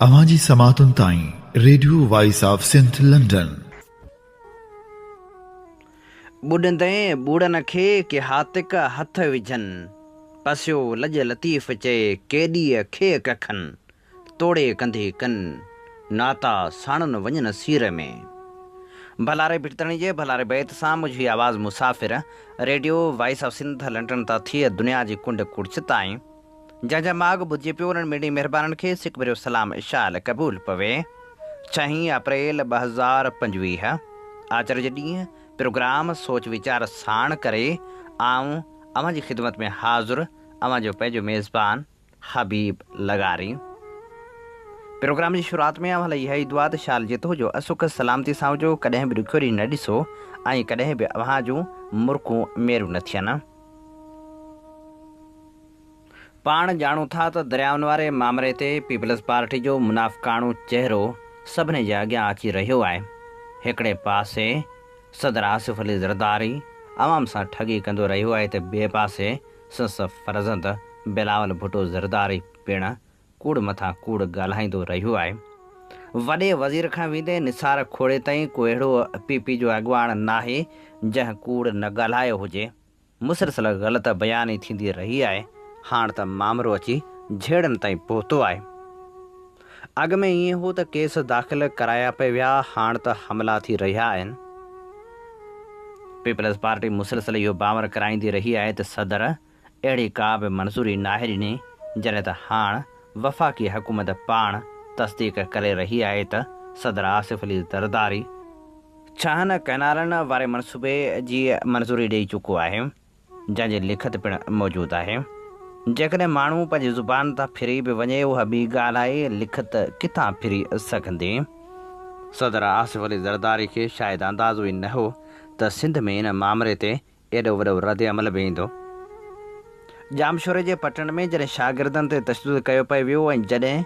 اوهان جي سماعتن تائين radio voice of Sindh London. ٻڏندين ٻوڙن کي ڪي هاتڪ هٿ وجهن، پسيو لڄ لطيف چئي ڪيڏيء کي ڪکن، توڙي ڪنڌي ڪن ناتا ساڻن وڃن سير ۾. ڀلاري ڀٽتڻي جي ڀلاري بيت سان منهنجي آواز مسافر radio voice of Sindh London تان ٿئي دنيا جي ڪنڊ ڪڙڇ تائين. جنهن جا ماڳ ٻڌجي پيو انهن ميڙي مهربانن کي سڪ ڀريو سلام اشال قبول پوي. ڇهين اپريل ٻه هزار پنجويهه آچر جي ڏينهن پروگرام سوچ ويچار ساڻ ڪري آئون اوهان جي خدمت ۾ حاضر اوهان جو پنهنجو ميزبان حبيب لغاري پروگرام جي شروعات ۾ اوهان لاء اها ئي دعا ته شال جت هجو اسک سلامتي سان هجو ڪڏهن به ڏکيو ڏينهن نه ڏسو ۽ ڪڏهن به اوهان جون مرڪون ميرون نه ٿين. پاڻ ڄاڻون ٿا ته دريائن واري مامري تي پيپلز پارٽي جو منافقاڻو چهرو سڀني جي اڳيان اچي رهيو آهي. هڪڙي پاسي صدر آصف علي زرداري عوام سان ٺڳي ڪندو رهيو آهي ته ٻئي پاسي سنس فرزند بلاول ڀٽو زرداري پڻ ڪوڙ مٿان ڪوڙ ڳالهائيندو رهيو آهي. وڏي وزير کان ويندي نثار کوڙي تائين ڪو اهڙو پي پي جو اڳواڻ ناهي جنهن ڪوڙ نه ڳالهايو هجي. مسلسل غلط بياني ٿيندي رهي آهي هاڻ ته مامرو اچي جهيڙن تائين پهتو آهي اڳ ۾ ائين هو ته ڪيس داخل ڪرايا پئي ويا هاڻ ته حملا ٿي رهيا آهن پيپلز پارٽي مسلسل اهو باور ڪرائيندي رهي آهي ته صدر اهڙي ڪا به منظوري ناهي ڏني جڏهن ته هاڻ وفاقي حڪومت پاڻ تصديق ڪري رهي آهي ته صدر آصف علي زرداري ڇهن ڪئنالن واري منصوبي جي منظوري ڏئي چڪو آهي، جنهن جي لکت پڻ موجود آهي. جيڪڏهن ماڻهو پنهنجي زبان تان ڦري به وڃي اها ٻي ڳالهه آهي، لکت ڪٿان ڦري سگهندي؟ صدر آصف علي زرداري کي شايد اندازو ئي نه هو ته سنڌ ۾ ان مامري تي ايڏو وڏو رد عمل به ايندو. ڄامشوري جي پٽڻ ۾ جڏهن شاگردن تي تشدد ڪيو پئي ويو ۽ جڏهن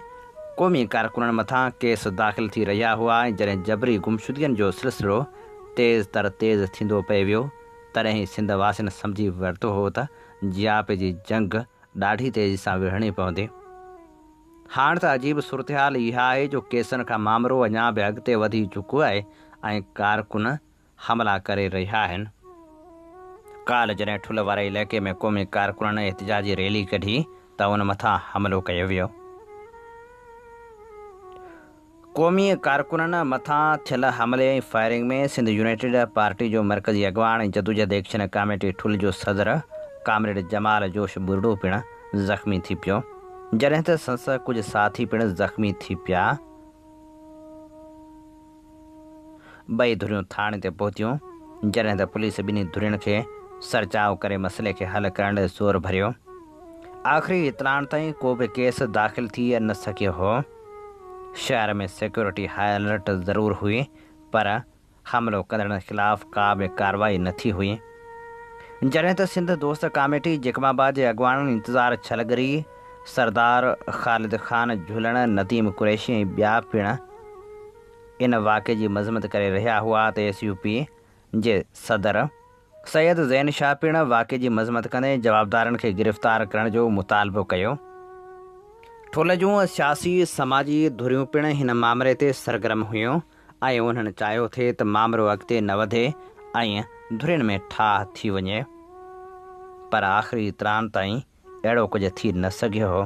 قومي ڪارڪنن مٿان ڪيس داخل ٿي رهيا هئا ۽ جڏهن جبري گمشدگين جو سلسلو تيز تر تيز ٿيندو پئي ويو تڏهن ئي سنڌ واسين سمجهي ورتو هو ته جياپي جي جنگ ڏاڍي تيزي سان وڙهڻي پوندي. هاڻ ته عجيب صورتحال اها آهي جو ڪيسن کان مامرو اڃا به اڳتي وڌي چڪو آهي ۽ ڪارڪن حملا ڪري رهيا آهن، ڪالهه جڏهن ٺل واري علائقي ۾ قومي ڪارڪنن احتجاجي ريلي ڪڍي ته ان مٿان حملو ڪيو ويو، قومي ڪارڪنن مٿان ٿيل حملي ۽ فائرنگ ۾ سنڌ يونائيٽيڊ پارٽي جو مرڪزي اڳواڻ ۽ جدوجهد ايڪشن ڪاميٽي ٺل جو صدر ڪامريڊ جمال جوش ٻرڙو پڻ زخمي ٿي پيو جڏهن ته سنس ڪجهه ساٿي پڻ زخمي ٿي پيا. ٻئي ڌريون ٿاڻي تي پهتيون، جڏهن ته پوليس ٻنهي ڌرين کي سرچاء ڪري مسئلي کي حل ڪرڻ ڏي زور ڀريو. آخري اطلاعن تائين ڪو به ڪيس داخل ٿي نه سگهيو هو. شهر ۾ سيڪيورٽي هاء الرٽ ضرور هئي پر حملو ڪندڙن خلاف ڪا به ڪارروائي نه ٿي هئي. جڏهن ته سنڌ دوست ڪاميٽي جيڪب آباد جي اڳواڻن انتظار ڇلگري، سردار خالد خان جهلڻ، نديم قريشي ۽ ٻيا پڻ ان واقعي جي مذمت ڪري رهيا هئا ته ايس يو پي جي صدر سيد زين شاهه پڻ واقعي جي مذمت ڪندي جوابدارن کي گرفتار ڪرڻ جو مطالبو ڪيو. ٺل جون سياسي سماجي ڌريون پڻ هن مامري تي سرگرم هيون ۽ انهن چاهيو ٿي ته مامرو اڳتي نه وڌي ۽ ڌرين ۾ ٺاهه ٿي وڃي پر آخري تران تائين اهڙو ڪجهه ٿي نه سگهيو هو.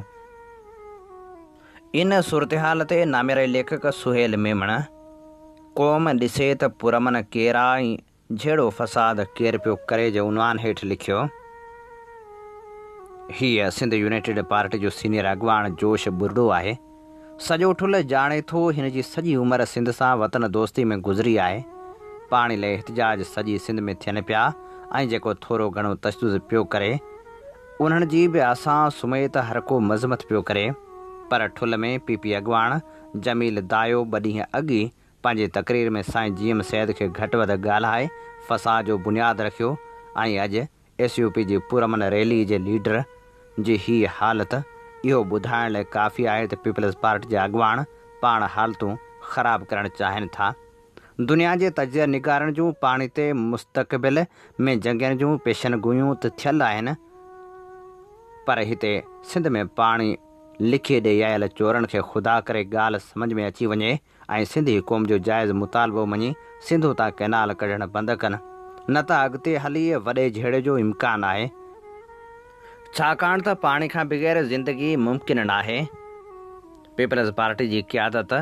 ان صورتحال تي نامياري ليکڪ سهيل ميمڻ، قوم ڏسي ته پرامن ڪير آ ۽ جهيڙو فساد ڪير پيو ڪري جي عنوان هيٺ لکيو، هيء سنڌ يونائيٽيڊ پارٽي جو سينيئر اڳواڻ جوش ٻرڙو آهي. سڄو ٺل ڄاڻي ٿو هن جي سڄي عمر سنڌ سان وطن دوستي ۾ گذري آهي. پاڻي لئي احتجاج سڄي سنڌ ۾ ٿين پيا ۽ جيڪو ٿورو گهڻو تشدد پيو ڪري انهن جي به اسان سميت هرڪو مذمت پيو ڪري پر ٺل ۾ پي پي اڳواڻ جميل دايو ٻه ڏينهن اڳ ئي پنهنجي تقرير ۾ سائين جي ايم سيد کي گهٽ وڌ ڳالهائي فساد جو بنياد رکيو ۽ اڄ ايس يو پي جي پرامن ريلي جي ليڊر جي هي حالت اهو ٻڌائڻ لاء ڪافي آهي ته پيپلز پارٽي جا اڳواڻ پاڻ حالتون خراب ڪرڻ چاهين ٿا. دنيا جي تجزيه نگارن جون پاڻي تي مستقبل ۾ جنگين جون پيشن گوئيون ته ٿيل آهن پر هتي سنڌ ۾ پاڻي لکي ڏيئي آيل چورن کي خدا ڪري ڳالهه سمجهه ۾ اچي وڃي ۽ سنڌي قوم جو جائز مطالبو مڃي سنڌو تان ڪئنال ڪڍڻ بند ڪن نه ته اڳتي هلي وڏي جهيڙي جو امڪان آهي ڇاڪاڻ ته پاڻي کان بغير زندگي ممڪن ناهي پيپلز پارٽي جي قيادت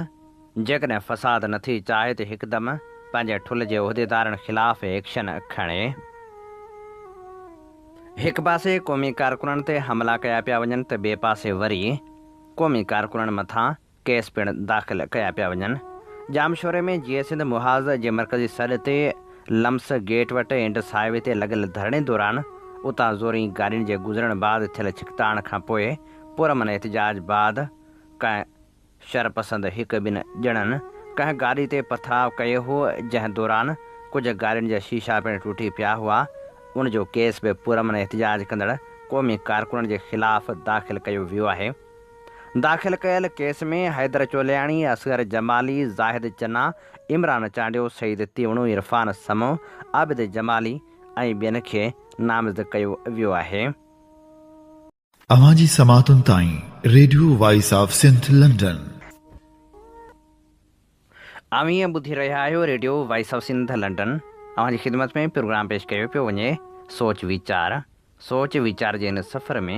جيڪڏهن فساد نٿي چاهي ته هڪدم پنهنجي ٺل جي عهديدارن خلاف ايڪشن کڻي هڪ پاسي قومي ڪارڪنن تي حملا ڪيا پيا وڃن ته ٻئي پاسي وري قومي ڪارڪنن مٿان ڪيس پڻ داخل ڪيا پيا وڃن. ڄامشوري ۾ جيئي سنڌ محاذ جي مرڪزي سڏ تي لمس گيٽ وٽ انڊس هاء وي تي لڳل ڌرڻي دوران اتان زورين گاڏين جي گذرڻ بعد ٿيل ڇڪتاڻ کان پوء پرامن احتجاج بعد ڪنهن شرپسند هڪ ٻن ڄڻن ڪنهن گاڏي تي پٿراء ڪيو هو جنهن دوران ڪجهه گاڏين جا شيشا پڻ ٽٽي پيا هئا ان جو ڪيس به پرامن احتجاج ڪندڙ قومي ڪارڪنن جي خلاف داخل ڪيو ويو آهي. داخل ڪيل ڪيس ۾ حيدر چولياڻي، اصغر جمالي، زاهد چنا، عمران چانڊيو، سعيد تيوڻو، عرفان سمون، عابد جمالي ۽ ٻين کي نامزد ڪيو ويو آهي. اوهان جي سماعتن تائين radio voice of Sindh London. اوهين ٻڌي رهيا آهيو radio voice of Sindh London اوهان جي خدمت ۾ پروگرام پيش ڪيو پيو وڃي سوچ ويچار سوچ ويچار جي هن سفر ۾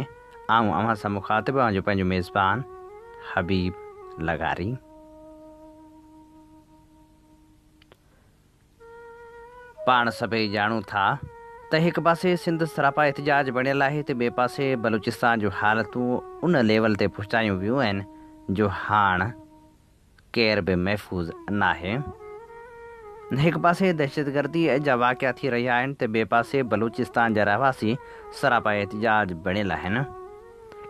آئون اوهان سان مخاطب اوهان جو پنهنجو ميزبان حبيب لغاري پاڻ سڀئي ڄاڻون ٿا ته هڪ پاسي سنڌ سراپا احتجاج بڻيل آهي ته ٻئي پاسي بلوچستان جو حالتون ان ليول تي پهچايون ويون آهن جو هاڻ ڪير به محفوظ ناهي. هڪ پاسي دهشتگردي جا واقعا ٿي رهيا آهن ته ٻئي پاسي بلوچستان جا رهواسي سراپا احتجاج بڻيل آهن.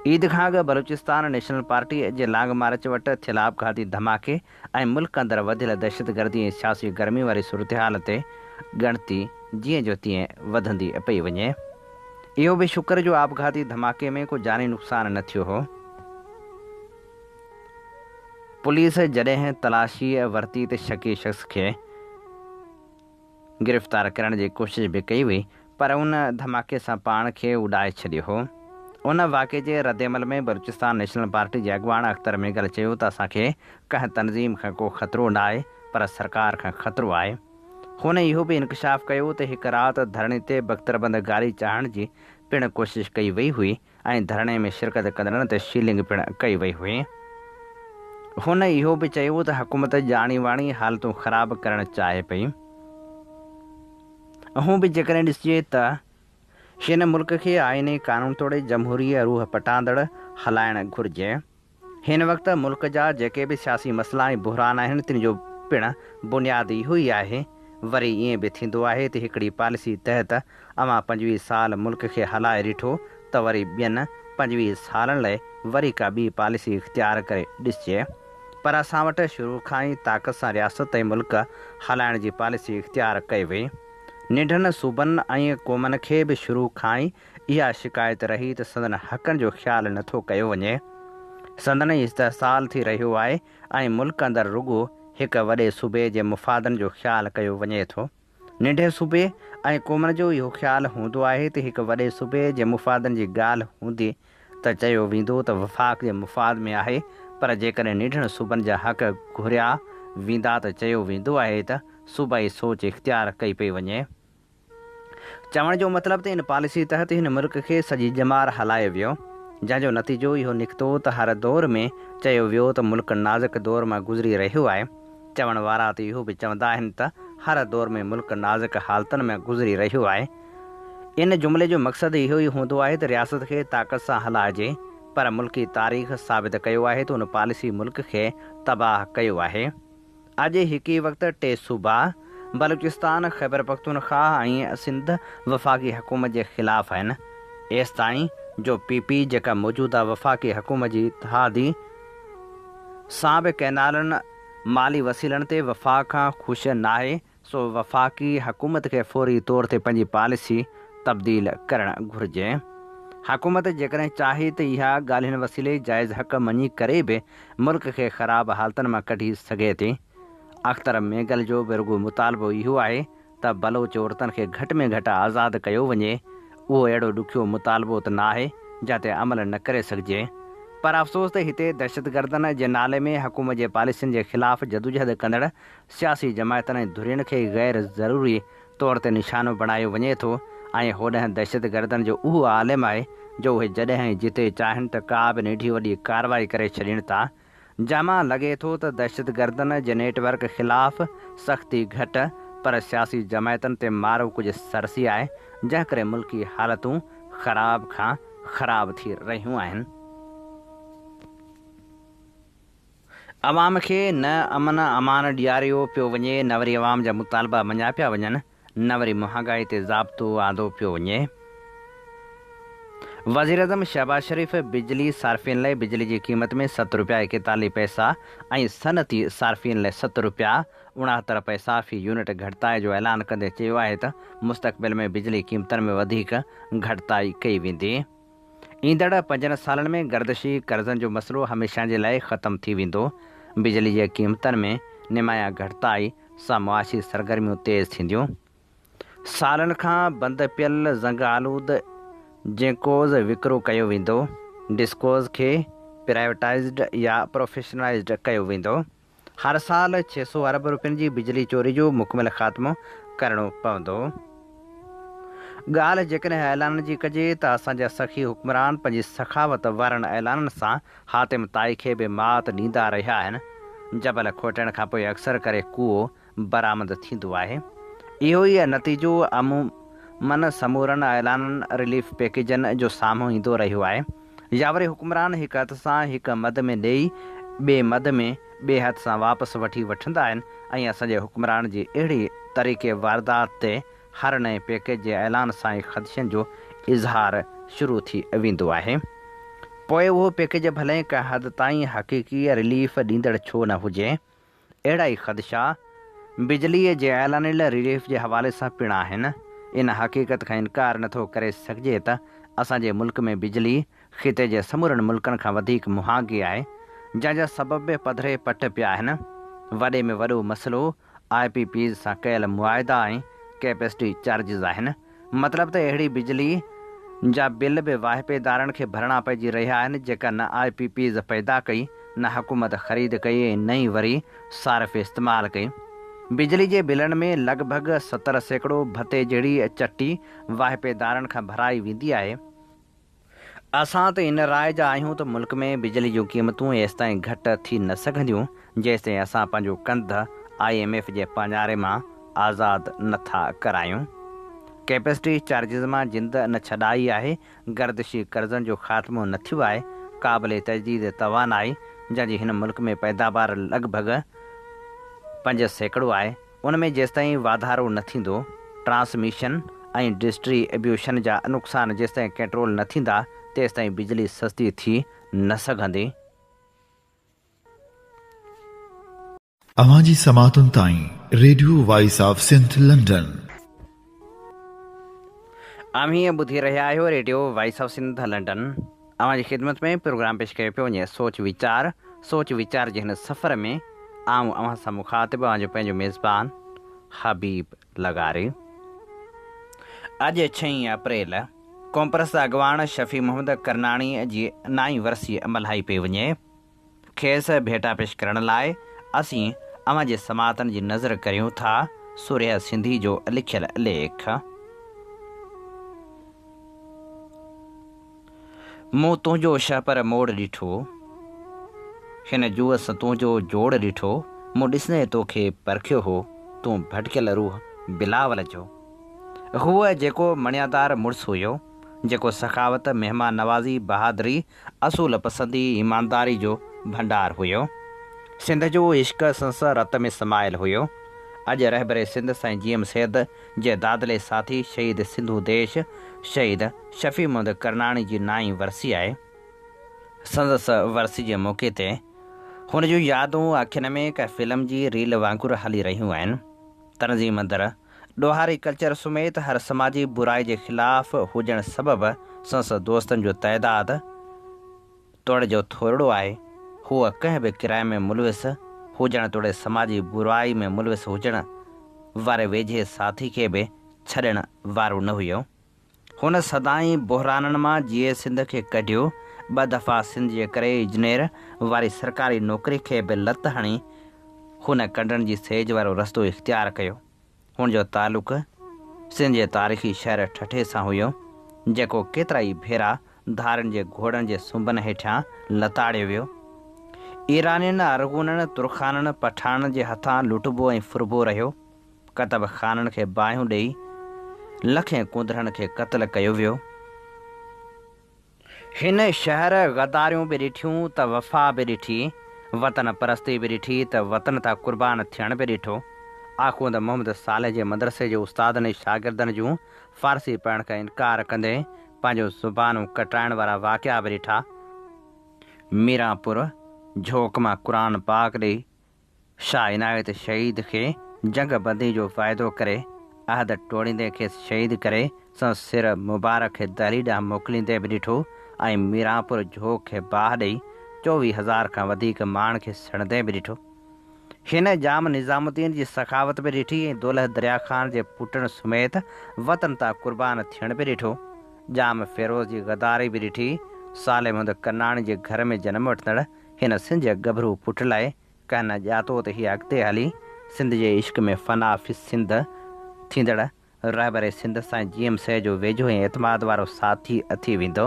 عيد کان اڳ بلوچستان نيشنل پارٽي جي لانگ مارچ وٽ ٿيل آپگهاتي ڌماڪي ۽ ملڪ اندر وڌيل دهشتگردي ۽ سياسي گرمي واري صورتحال تي ڳڻتي جيئن جو تيئن وڌندي پئي وڃي. اهو به شڪر جو آپگهاتي ڌماڪي ۾ ڪو جاني نقصان نه ٿيو هو. پوليس جڏهن تلاشيء ورتي ته شڪي شخص کي گرفتار ڪرڻ جي ڪوشش به ڪئي وئي پر ان ڌماڪي سان پاڻ کي اڏائي ڇڏيو هو. ان واقعي جي ردعمل ۾ بلوچستان نيشنل پارٽي جي اڳواڻ اختر مينگل چيو ته اسان کي ڪنهن تنظيم کان ڪو خطرو ناهي پر سرڪار کان خطرو آهي. هن اهو به انڪشاف ڪيو ته هڪ رات ڌرڻي تي بڪتربند گاري چاڙهڻ جي پڻ ڪوشش ڪئي وئي هئي ۽ ڌرڻي ۾ شرڪت ڪندڙن تي شيلنگ پڻ ڪئي وئي هئي. هن اهو به چيو ته حڪومت ڄاڻي واڻي حالتون خراب ڪرڻ چاهي پئي. اهو به جيڪڏهن ڏسجي ته هن ملڪ کي آئيني قانون توڙي جمهوري روح پٽاندڙ هلائڻ گهرجي. هن وقت ملڪ جا جيڪي به سياسي مسئلا ۽ بحران آهن تن جو پڻ بنياد اهو ئي آهي. وري ائين به ٿيندو آهي ته هڪڙي پاليسي تحت اوهان پنجويهه سال ملڪ کي هلائي ڏٺو ته وري ٻين پنجويهه سالن لئي وري ڪا ٻي پاليسي اختيار ڪري ڏسجي پر اسان وٽ شروع کان ئي طاقت سان رياست ۽ ملڪ هلائڻ جي پاليسي اختيار ڪئي وئي. ننڍن صوبن ۽ قومن کي به شروع کان ئي اها شڪايت رهي ته سندن حقن جو خيال نه ٿو ڪيو وڃي، سندن ئي استحصال ٿي رهيو آهي ۽ ملڪ اندر رڳو هڪ وڏي صوبي جي مفادن جو خيال ڪيو وڃي ٿو. ننڍي صوبي ۽ قومن جو اهو خيال هوندو آهي ته هڪ وڏي صوبي جي مفادن جي ڳالهه هوندي ته چيو ويندو ته وفاق جي مفاد ۾ آهي پر جيڪڏهن ننڍڙن صوبن جا حق گهريا ويندا ته چيو ويندو آهي ته صوبائي سوچ اختيار ڪئي پئي وڃي. چوڻ جو مطلب ته ان پاليسي تحت هن ملڪ کي سڄي ڄمار هلايو ويو، جنهن جو نتيجو اهو نڪتو ته هر دور ۾ چيو ويو ته ملڪ نازڪ دور مان گذري رهيو آهي، چوڻ وارا ته اهو به چوندا آهن ته هر دور ۾ ملڪ نازڪ حالتن ۾ گذري رهيو آهي. ان جملي جو مقصد اهو ئي هوندو آهي ته رياست کي طاقت سان هلائجي، پر ملڪي تاريخ ثابت ڪيو آهي ته ان پاليسي ملڪ کي تباهه ڪيو آهي. اڄ هڪ ئي وقت ٽي صوبا بلوچستان، خيبرپختونخواهه ۽ سنڌ وفاقي حڪومت جي خلاف آهن، ايستائين جو پي پي جيڪا موجوده وفاقي حڪومت جي اتحادي سان به ڪئنالن مالي وسيلن تي وفاق کان خوش ناهي سو وفاقي حڪومت کي فوري طور تي پنهنجي پاليسي تبديل ڪرڻ گهرجي. حڪومت جيڪڏهن چاهي ته اها ڳالهين وسيلي جائز حق مڃي ڪري به ملڪ کي خراب حالتن مان ڪڍي سگهي ٿي. اختر مينگل جو به رڳو مطالبو اهو آهي ته بلوچ عورتن کي گهٽ ۾ گهٽ آزاد ڪيو وڃي. اهو اهڙو ڏکيو مطالبو ته ناهي جنهن تي عمل نه ڪري سگهجي. پر افسوس ته هتي دهشتگردن جي نالي ۾ حڪومت جي پاليسين جي خلاف جدوجهد ڪندڙ سياسي جماعتن ۽ ڌرين کي غير ضروري طور تي نشانو بڻايو وڃي ٿو ۽ هوڏانهن دهشتگردن جو اهو عالم آهي جو اهي جڏهن ۽ جتي چاهين ته ڪا به نيڍي وڏي ڪارروائي ڪري ڇڏين ٿا جنهن مان لڳي ٿو ته دهشتگردن جي نيٽ ورڪ خلاف سختي گهٽ پر سياسي جماعتن تي مارو ڪجهه سرسي آهي جنهن ڪري ملڪي حالتون خراب کان خراب ٿي رهيون آهن. عوام کي نه امن امان ڏياريو پيو وڃي، نه وري عوام جا مطالبا مڃيا پيا وڃن، نه وري مهانگائي تي ضابطو آندو پيو وڃي. وزيراعظم شهباز شريف بجلي صارفين لئه بجلي جي قيمت ۾ ست رپيا ايڪيتاليهه پئسا ۽ صنعتي صارفين لئه ست رپيا اڻاهتر پئسا في يونٽ گهٽتائي جو اعلان ڪندي چيو آهي ته مستقبل ۾ بجلي قيمتن ۾ وڌيڪ گهٽتائي ڪئي ويندي. ايندڙ پنجن سالن ۾ گردشي قرضن جو مسئلو هميشه جي لاء ختم ٿي ويندو، بجلي جي قيمتن ۾ نمايان گهٽتائي سان معاشي سرگرميون تيز ٿينديون، سالن کان بند پيل زنگ آلود جينڪوز وڪرو ڪيو ويندو، ڊسڪوز کي پرائيوٽائيزڊ يا پروفيشنلائيزڊ ڪيو ويندو. هر سال ڇهه سؤ ارب روپين جي بجلي چوري جو مڪمل خاتمو ڪرڻو پوندو. ڳالهه جيڪڏهن اعلانن جي ڪجي ته اسان جا سخي حڪمران پنهنجي سخاوت وارن اعلانن سان حاتم طائي کي به مات ڏيندا رهيا آهن. جبل کوٽڻ کانپوء اڪثر ڪري ڪوئو برآمد ٿيندو آهي. اهو ئي نتيجو عمومن سمورن اعلانن، رليف پيڪيجن، جو سامهون ايندو رهيو آهي يا وري حڪمران هڪ هٿ سان هڪ مد ۾ ڏيئي ٻئي مد ۾ ٻئي هٿ سان واپس وٺي وٺندا آهن ۽ اسان جي حڪمران جي اهڙي طريقي واردات تي هر نئين پيڪيج جي اعلان سان ئي خدشن جو اظهار شروع ٿي ويندو آهي پوء اهو پيڪيج ڀلئين ڪنهن حد تائين حقيقي رليف ڏيندڙ ڇو نه هجي. اهڙا ئي خدشا بجليء جي اعلانيل ريليف جي حوالي سان پڻ آهن. ان حقيقت کان انڪار نه ٿو ڪري سگهجي ته اسان جي ملڪ ۾ بجلي خطي جي سمورن ملڪن کان وڌيڪ مهانگي آهي، جنهن جا سبب به پڌري پٽ پيا آهن. وڏي ۾ وڏو مسئلو آء پي پيز سان ڪيل معاهدا ۽ ڪيپسٽي چارجز آهن. مطلب ته اهڙي بجلي جا بل به واهپيدارن کي ڀرڻا پئجي رهيا آهن جيڪا نه آء پي پيز پيدا ڪئي، نه حڪومت خريد ڪئي ۽ نه ئي وري صارف استعمال ڪئي. بجلي جي بلن ۾ لڳ ڀڳ ستر سيڪڙو ڀتي جهڙي چٽي واهپيدارن کان ڀرائي ويندي آهي. اسان ته ان راء جا آهيون ته ملڪ ۾ بجلي جون قيمتون ايستائين گهٽ ٿي نه سگهنديون جيستائين اسان پنهنجو ڪنڌ آء ايم ايف جي پاڃاري مان آزاد نه ٿا ڪرايون. ڪيپسٽي چارجز مان جند نه ڇڏائي آهي، گردشي قرضن جو خاتمو نه ٿيو آهي، قابل تجديد توانائي جنهن جي هن ملڪ ۾ پيداوار لڳ ڀڳ پنج سيڪڙو آهي، ان ۾ جيستائين واڌارو نه ٿيندو، ٽرانسميشن ۽ ڊسٽري بيوشن جا نقصان جيستائين ڪنٽرول نه ٿيندا، تيستائين بجلي سستي ٿي نه سگهندي. اوهان جي سماعتن تائين radio voice of Sindh London. اوهين ٻڌي رهيا آهيو radio voice of Sindh London اوهان جي خدمت ۾ پروگرام پيش ڪيو پيو وڃي سوچ ويچار سوچ ويچار جي هن سفر ۾ آئون اوهان سان مخاطب اوهان جو پنهنجو ميزبان حبيب لغاري اڄ ڇهين اپريل ڪونپرس اڳواڻ شفيع محمد ڪرناڻي جي نائين ورسي ملهائي پئي وڃي. کيس ڀيٽا پيش ڪرڻ لاء اسين اوهان جي سماعتن جي نذر ڪريون ٿا. سورهيه سنڌي جو لکيل ليک. مون تنهنجو شهپر موڙ ڏٺو. هن جوس تنهنجو جوڙ ڏٺو. مون ڏسندي توکي پرکيو هو. تون ڀٽڪيل روح بلاول جو هئه جيڪو مڻيادار مڙس هيو. جيڪو سخاوت، مهمان نوازي، بهادري اصول پسندي ايمانداري جو ڀنڊار هيو. سنڌ جو عشق سنس رت ۾ سمايل هيو. اڄ رهبر سنڌ سائين جي ايم سيد جي دادلي ساٿي شهيد سنڌو ديش شهيد شفيع محمد ڪرناڻي جي نائين ورسي آهي. سندس ورسي جي موقعي تي هن جون يادون اکين ۾ ڪنهن فلم جي ريل وانگر هلي رهيون آهن. تنظيم اندر ڏوهاري ڪلچر سميت هر سماجي برائي جي خلاف هجڻ سبب سندس دوستن جو تعداد توڙي جو ٿورڙو آهي. هوء ڪنهن به ڪرائم ۾ ملوث هجڻ توڙي سماجي برائي ۾ ملوث هجڻ واري ويجهي ساٿي کي به ڇڏڻ وارو نه هيو. هن سدائين بحرانن مان جيئي سنڌ کي ڪڍيو، ٻه دفعا سنڌ جي ڪري اجنير واري سرڪاري نوڪري کي به لت هڻي هن ڪنڊن جي سيج وارو رستو اختيار ڪيو. هن جو تعلق سنڌ جي تاريخي شهر ٺٽي سان هيو، جيڪو ڪيترا ئي ڀيرا ڌارين جي گهوڙن جي سنبن هيٺيان لتاڙيو ويو. ايرانين، ارغونن، ترخانن، پٺاڻن جي هٿان لٽبو ۽ ڦربو رهيو. ڪتب خانن کي باهيون ڏئي لکين ڪونڌرن کي قتل ڪيو ويو. هن شهر غداريون به ڏٺيون ته وفا به ڏٺي، وطن پرستي به ڏٺي ته وطن تان قربان ٿيڻ به ڏٺو. آخوند محمد صالح جي مدرسي جي استادن ۽ شاگردن جون فارسي پڙهڻ کان انڪار ڪندي پنهنجون زبانون ڪٽرائڻ وارا واقعا به ڏٺا. ميران پور جھوڪ مان قرآن پاڪ ڏئي شاهه عنايت شهيد کي جنگ بندي جو واعدو ڪري عهد ٽوڙيندي کيس شهيد ڪري سندس سر مبارڪ کي دهلي ڏانهن موڪليندي به ڏٺو ۽ ميرانپور جهوڪ کي باهه ڏئي چوويهه هزار کان وڌيڪ ماڻهن کي سڙندي به ڏٺو. هن ڄام نظام الدين جي سخاوت به ڏٺي ۽ دولهه دريا خان جي پٽن سميت وطن تان قربان ٿيڻ به ڏٺو. ڄام فيروز جي غداري به ڏٺي. صالح محمد ڪناڻي جي گهر ۾ جنم وٺندڙ هن سنڌ جي ڳڀرو پٽ لاء ڪنهن نه ڄاتو ته هيء اڳتي هلي سنڌ جي عشق ۾ فنا في السنڌ ٿيندڙ رهبر سنڌ سائين جي ايم سيد جو ويجهو ۽ اعتماد وارو ساٿي ٿي ويندو.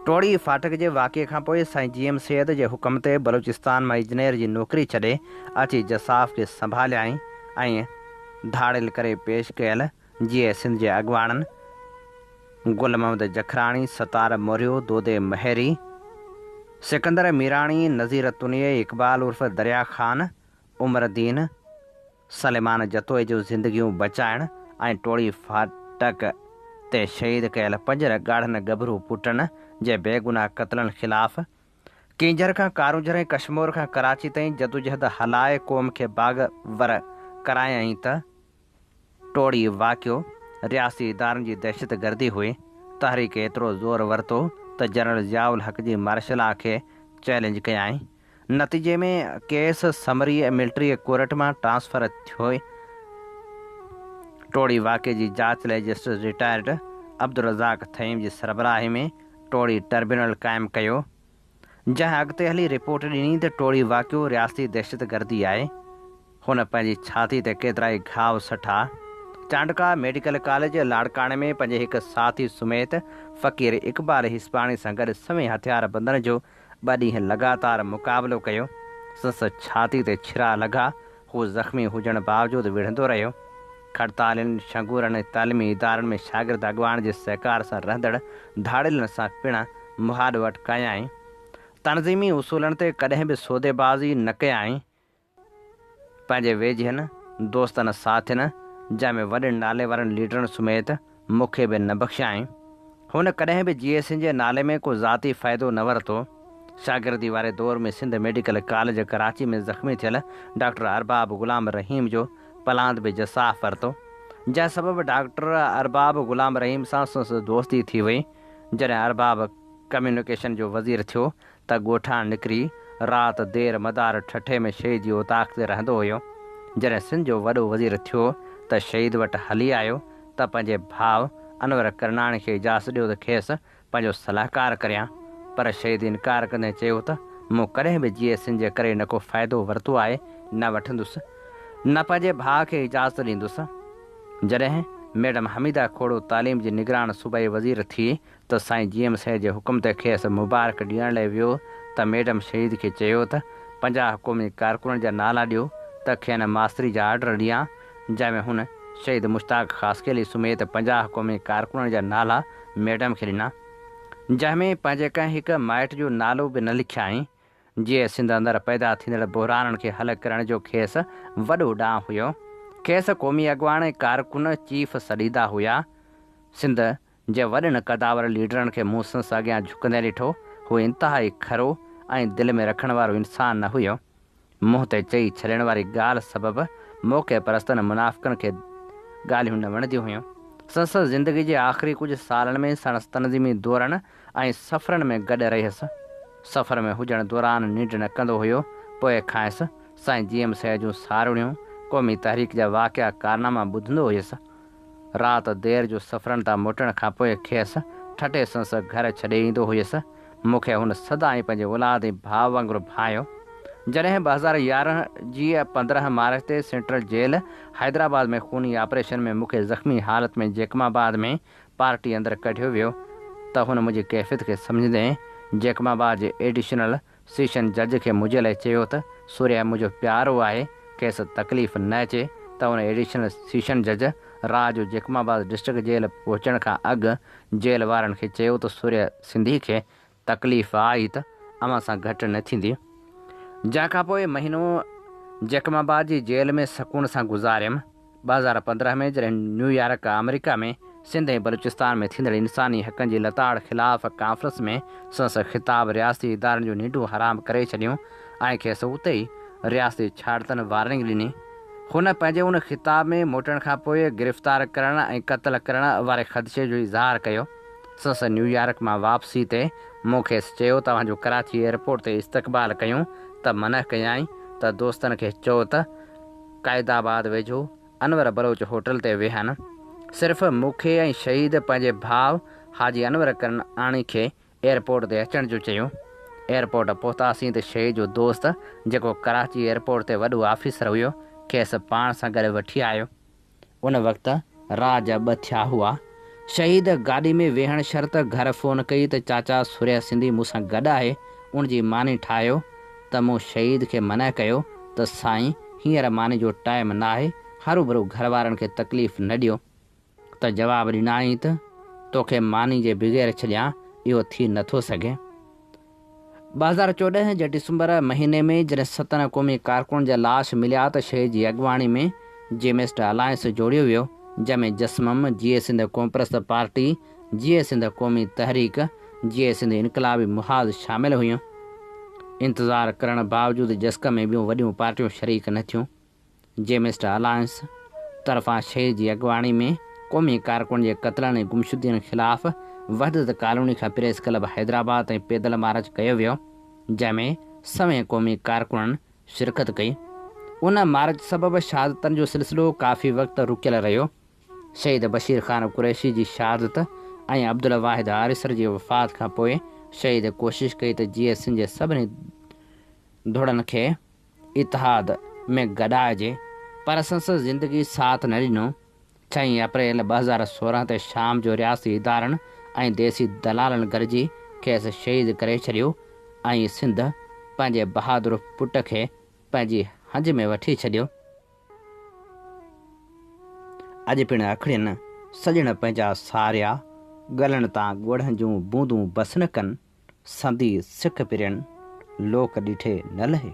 ٽوڙي فاٽڪ جي واقعي کان پوء سائين جي ايم سيد جي حڪم تي بلوچستان مان اجنير جي نوڪري ڇڏي اچي جساف کي سنڀاليائين ۽ ڌاڙيل ڪري پيش ڪيل جيئي سنڌ جي اڳواڻن گل محمد جکراڻي، ستار موريو، دودي مهيري، سڪندر ميراڻي، نذير تنيي، اقبال عرف دريا خان، عمر دين، سليمان جتوئي جون زندگيون بچائڻ ۽ ٽوڙي ڦاٽڪ تي شهيد ڪيل پنج ڳاڙهن ڳڀرو پٽن جي بيگناهه قتلن خلاف ڪينجهر کان ڪارونجهر ۽ ڪشمور کان ڪراچي تائين جدوجهد هلائي قوم کي باغ ور ڪرايائين ته ٽوڙي واقعو رياستي ادارن جي دهشت گردي هئي، تحريڪ ايترو زور ورتو ته جنرل ضياء الحق جي مارشل لا کي چئلينج ڪيائين، نتيجي ۾ ڪيس سمري ملٽري ڪورٽ مان ٽرانسفر ٿيو، ٽوڙي واقعي جي جاچ لاء جسٽس رٽائرڊ عبدالرزاق ٿهيم جي سربراهي ۾ ٽوڙي ٽربيونل قائم ڪيو، جنهن اڳتي هلي رپورٽ ڏني ته ٽوڙي واقعو رياستي دهشتگردي آهي. هن پنهنجي ڇاتي تي ڪيترائي گهاء سٺا. چانڊڪا ميڊيڪل ڪاليج لاڙڪاڻي ۾ پنهنجي هڪ ساٿي سميت فقير اقبال هيسپاڻي سان گڏ سوين هٿياربندن جو ٻه ڏينهن لڳاتار مقابلو ڪيو. سندس ڇاتي تي ڇرا لڳا هو زخمي هجڻ باوجود وڙهندو رهيو. کڙتالين، شنگورن ۽ تعليمي ادارن ۾ شاگرد اڳواڻ جي سهڪار سان رهندڙ ڌاڙيلن سان پڻ مهاڏ وٽ ڪيائين. تنظيمي اصولن تي ڪڏهن به سوديبازي نه ڪيائين. پنهنجي ويجهين دوستن ساٿين، جنهن ۾ وڏن ناليوارن ليڊرن سميت، مون کي به نه بخشيائين. هن ڪڏهن به جي اي سين جي نالي ۾ ڪو ذاتي فائدو نه ورتو. شاگردي واري دور ۾ سنڌ ميڊيڪل ڪاليج ڪراچي ۾ زخمي ٿيل ڊاڪٽر ارباب غلام رحيم جو پلاند به جساف ورتو. جنهن سبب ڊاڪٽر ارباب غلام رحيم سان سنس دوستي ٿي وئي. جڏهن ارباب ڪميونيڪيشن جو وزير ٿيو ته ڳوٺان نڪري رات دير مدار ٺٽي ۾ شهيد جي اوطاق تي رهندو هيو. جڏهن سنڌ جو وڏو وزير ٿيو ته شهيد وٽ هلي آيو ته پنهنجي ڀاء انور ڪرناڻي کي اجازت ڏيو ته کيس پنهنجو صلاحڪار ڪريان. پر شهيد انڪار ڪندي چيو ته مون ڪڏهن به جيئي سين جي ڪري نه ڪو فائدو ورتو آهي، نه وٺندس، نه پنهنجي ڀاء کي اجازت ڏيندس. جڏهن ميڊم حميده کوڙو تعليم جي نگران صوبائي وزير ٿي ته سائين جي ايم سيد جي حڪم تي کيس مبارڪ ڏيڻ لاء ويو ته ميڊم شهيد کي چيو ته پنجاهه حڪومي ڪارڪنن جا نالا ڏيو ته کين ماستري جا آرڊر ڏيان جنهن ۾ هن شهيد مشتاق خاصخيلي سميت پنجاهه حڪومي ڪارڪنن جا نالا ميڊم کي ڏنا جنهن ۾ پنهنجي ڪنهن هڪ مائٽ جو نالو به نه لکيائين جي سنڌ اندر پيدا ٿيندڙ بحرانن کي حل ڪرڻ جو کيس وڏو ڏانء هيو کيس قومي اڳواڻ ۽ ڪارڪن چيف سڏيندا هيا سنڌ جنهن وڏن قداور ليڊرن کي مون سنس اڳيان جهڪندي ڏٺو، هو انتهائي کرو ۽ دل ۾ رکڻ وارو انسان نه هيو. منهن تي چئي ڇڏڻ واري ڳالهه سبب موقعي پرستن منافقن کي ڳالهيون نه وڻنديون هيون. سنس زندگي جي آخري ڪجهه سالن ۾ سڻس تنظيمي دورن ۽ سفرن ۾ گڏ رهيس. سفر ۾ هجڻ دوران ننڊ نه ڪندو هيو، پوء کانئس سائين جي ايم سيد جون ساروڻيون، قومي تحريڪ جا واقعا ڪارناما ٻڌندو هيس. رات دير جو سفرن تان موٽڻ کان پوء کيس ٺٽي سندس گهر ڇڏي ايندو هيس. مون کي هن سدائين پنهنجي اولاد ۽ ڀاء وانگر ڀانئيو. جڏهن ٻه هزار يارهن جي پندرهن مارچ تي سينٽرل جيل حيدرآباد ۾ خوني آپريشن ۾ مون کي زخمي حالت ۾ جيڪب آباد ۾ پارٽي اندر ڪڍيو ويو ته هن منهنجي ڪيفيت کي سمجهندي جيڪب آباد جي ايڊيشنل سيشن جج کي منهنجي لاء چيو ته سوريا منهنجو پيارو آهي، کيس تڪليف نه اچي ته هن ايڊيشنل سيشن جج رات جو جيڪب آباد ڊسٽرڪٽ جيل پهچڻ کان اڳ جيل وارن کي چيو ته سوريا سنڌي کي تڪليف آئي ته اوهان سان گهٽ نه ٿيندي. جنهن کانپوء مهينو جيڪب آباد جي جيل ۾ سڪون سان گذاريم. ٻه هزار پندرهن ۾ جڏهن نيويارڪ، آمريڪا ۾ سنڌ ۽ بلوچستان ۾ ٿيندڙ انساني حقن جي لتاڙ خلاف ڪانفرنس ۾ سندس خطاب رياستي ادارن جون ننڊون حرام ڪري ڇڏيون ۽ کيس اتي ئي رياستي ڇاڙتن وارننگ ڏني. هن پنهنجي ان خطاب ۾ موٽڻ کان پوء گرفتار ڪرڻ ۽ قتل ڪرڻ واري خدشي جو اظهار ڪيو. سندس نيويارڪ مان واپسي تي مون کيس چيو ته اوهان جو ڪراچي ايئرپورٽ تي استقبال ڪيون ته منع ڪيائين ته دوستن کي چئو ته قائد آباد ويجهو انور بلوچ هوٽل تي ويهن، صرف مون کي ۽ شهيد پنهنجي ڀاء حاجي انور ڪرناڻي کي ايئرپورٽ تي اچڻ جو چيو. ايئرپورٽ پهتاسين ته شهيد جو دوست جيڪو ڪراچي ايئرپورٽ تي وڏو آفيسر هيو، کيس پاڻ سان گڏ وٺي آيو. ان وقت رات جا ٻه ٿيا هئا. شهيد گاڏي ۾ ويهڻ شرط گهر فون ڪئي ته چاچا سوريا سنڌي مون سان گڏ آهي، ان جي ماني ٺاهيو ته مون شهيد کي منع ڪيو ته سائين هينئر ماني جو ٽائيم ناهي، هروڀرو گهر وارن کي تڪليف نه ڏيو ته جواب ڏنائين ته توکي ماني جي بغير ڇڏيان اهو ٿي نٿو سگهي. ٻه هزار چوڏهن جي ڊسمبر مهيني ۾ جڏهن ستن قومي ڪارڪنن جا لاش مليا ته شيء جي اڳواڻي ۾ جيمسٽ الائنس جوڙيو ويو جنهن ۾ جسمم، جيئي سنڌ قومپرست پارٽي، جيئي سنڌ قومي تحريڪ، جيئي سنڌ انقلابي محاذ شامل هيون. انتظار ڪرڻ باوجود جسقم ۾ ٻيون وڏيون پارٽيون شريڪ نه ٿيون. جي مسٽر الائنس طرفان شير جي اڳواڻي ۾ قومي ڪارڪن جي قتلن ۽ گمشدگين خلاف وحدت ڪالوني کان پريس ڪلب حيدرآباد تائين پيدل مارچ ڪيو ويو جنهن ۾ سوين قومي ڪارڪنن شرڪت ڪئي ان مارچ سبب شهادتن جو سلسلو ڪافي وقت رڪيل رهيو شهيد بشير خان قريشي جي شهادت ۽ عبدالواحد آريسر جي وفات کان پوء شهيد ڪوشش ڪئي ته جي ايس سين جي سڀني ڌڙن کي اتحاد ۾ گڏائجي پر اسان سان زندگي ساٿ نه ڏنو، ڇهين اپريل ٻه هزار سورهن تي شام جو رياستي ادارن ۽ ديسي دلالن گڏجي کيس شهيد ڪري ڇڏيو ۽ سنڌ پنهنجي بهادر پٽ کي پنهنجي هنج ۾ وٺي ڇڏيو. اڄ پڻ اکڙين سڄڻ پنهنجا ساريا، ڳلن تان ڳوڙهن جون بوندون بس نه ڪن. سندي سک پرين لوڪ ڏٺي نه لهي.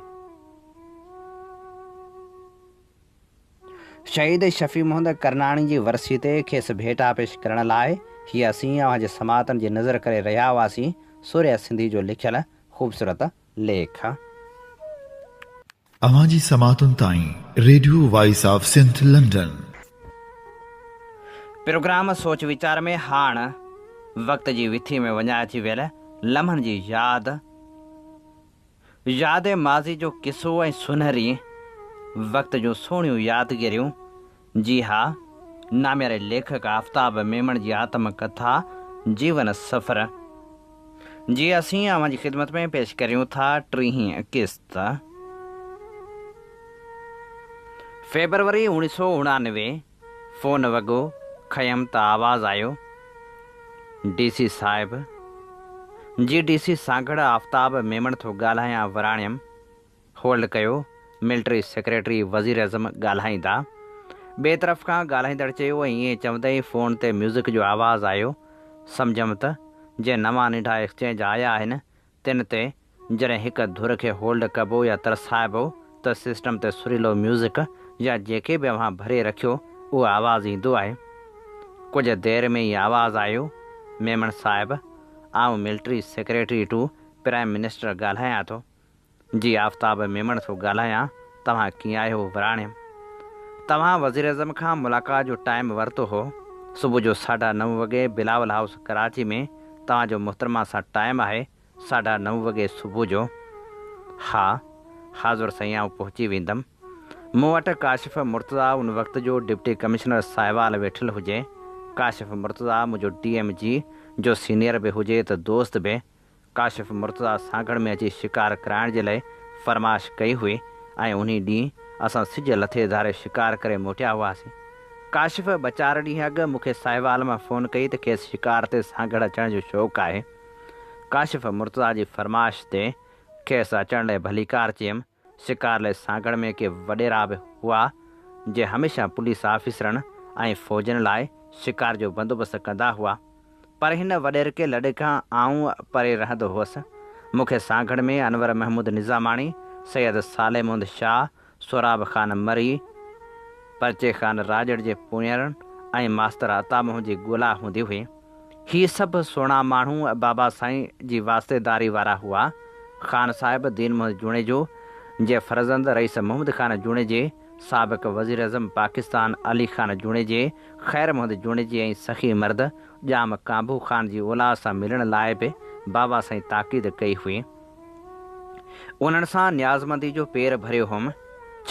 شهيد شفيع محمد ڪرناڻي جي ورسي تي کيس ڀيٽا پيش ڪرڻ لاء هي اسين اوهان جي سماعتن جي نظر ڪري رهيا هئاسين سورهيه سنڌي جو لکيل خوبصورت ليک. اوهان جي سماعتن تائين radio voice of Sindh London. Programme سوچ ويچار ۾ هاڻ وقت جي وٿي ۾ وڃائجي ويل لمحن جي ياد، ياد ماضي جو قصو ۽ سونهري وقت جون سهڻيون يادگيريون جي ها، نامياري ليکڪ آفتاب ميمڻ جي آتم ڪٿا جيون سفر جي اسين اوهان جي خدمت ۾ پيش ڪريون ٿا ٽيهين قسط. فيبروري اوڻيهه سؤ اڻانوي فون وڳو کنيم ته آواز آيو ڊي سي صاحب جي ڊي سي سانگهڙ آفتاب ميمڻ ٿو ڳالهايان وراڻيم. هولڊ ڪيو، ملٽري سيڪريٽري وزيراعظم ڳالهائيندا. ٻئي طرف کان ڳالهائيندڙ چيو ۽ ائين چوندي ئي فون تي ميوزڪ جو آواز آيو، سمجهيم ته جي نوان ننڍا ايڪسچينج آيا آهن تن تي جڏهن هڪ ڌر کي هولڊ ڪبو يا ترسائبو ته سسٽم تي سريلو ميوزڪ يا جيڪي به اوهان ڀري رکيو اهو آواز ايندو آهي. ڪجهه دير ۾ ئي آواز آيو، ميمڻ صاحب آئون military secretary to prime minister ڳالهايان ٿو. جي آفتاب ميمڻ ٿو ڳالهايان توهان ڪيئن آهيو وراڻيم توهان وزيراعظم کان ملاقات جو ٽائيم ورتو هو صبح جو ساڍا نو وڳي بلاول هائوس ڪراچي ۾ توهان جو محترمه سان ٽائيم آهي ساڍا نو وڳي صبح جو ها حاضر سائين آئون پهچي ويندم مون وٽ ڪاشف مرتضيٰ ان وقت جو ڊپٽي ڪمشنر ساهيوال ويٺل هجي ڪاشف مرتضيٰ منهنجو ڊي ايم جي جو سينيئر به هجي ته دوست به ڪاشف مرتضيٰ سانگهڙ ۾ اچي شڪار ڪرائڻ جي لئه فرمائش ڪئي هئي ۽ انهي ڏينهن اسان سج لٿي ڌاري شڪار ڪري موٽيا هئاسين. ڪاشف ٻه چار ڏينهن اڳ مون کي ساهيوال مان فون ڪئي ته کيس شڪار تي سانگهڙ اچڻ جو شوق آهي. ڪاشف مرتضيٰ جي فرمائش تي کيس اچڻ لئه ڀليڪار چيم. شڪار لئي سانگهڙ ۾ ڪي وڏيرا به هئا، جي هميشه پوليس آفيسرن ۽ فوجين لاء شڪار جو بندوبست ڪندا هئا، پر هن وڏيرڪي لڏي کان آئون پري رهندو هوس. مون کي سانگهڙ ۾ انور محمود نظاماڻي، سيد صالح مند شاهه، سهراب خان مري، پرچي خان راڄڙ جي پونئيرن ۽ ماستر عطا موهن جي ڳولا هوندي هئي. هي سڀ سهڻا ماڻهو بابا سائين جي واسطيداري وارا هئا. خان صاحب دين محمد جوڻيجو جي فرزند رئيس محمد خان جوڻيجي، سابق وزيراعظم پاڪستان علي خان جوڻيجي، خير محمد جوڻيجي ۽ سخي مرد ڄام ڪانڀو خان جي اولاد سان ملڻ لاء به بابا سائين تاڪيد ڪئي هئي. انهن سان نيازمندي جو پير ڀريو هئم،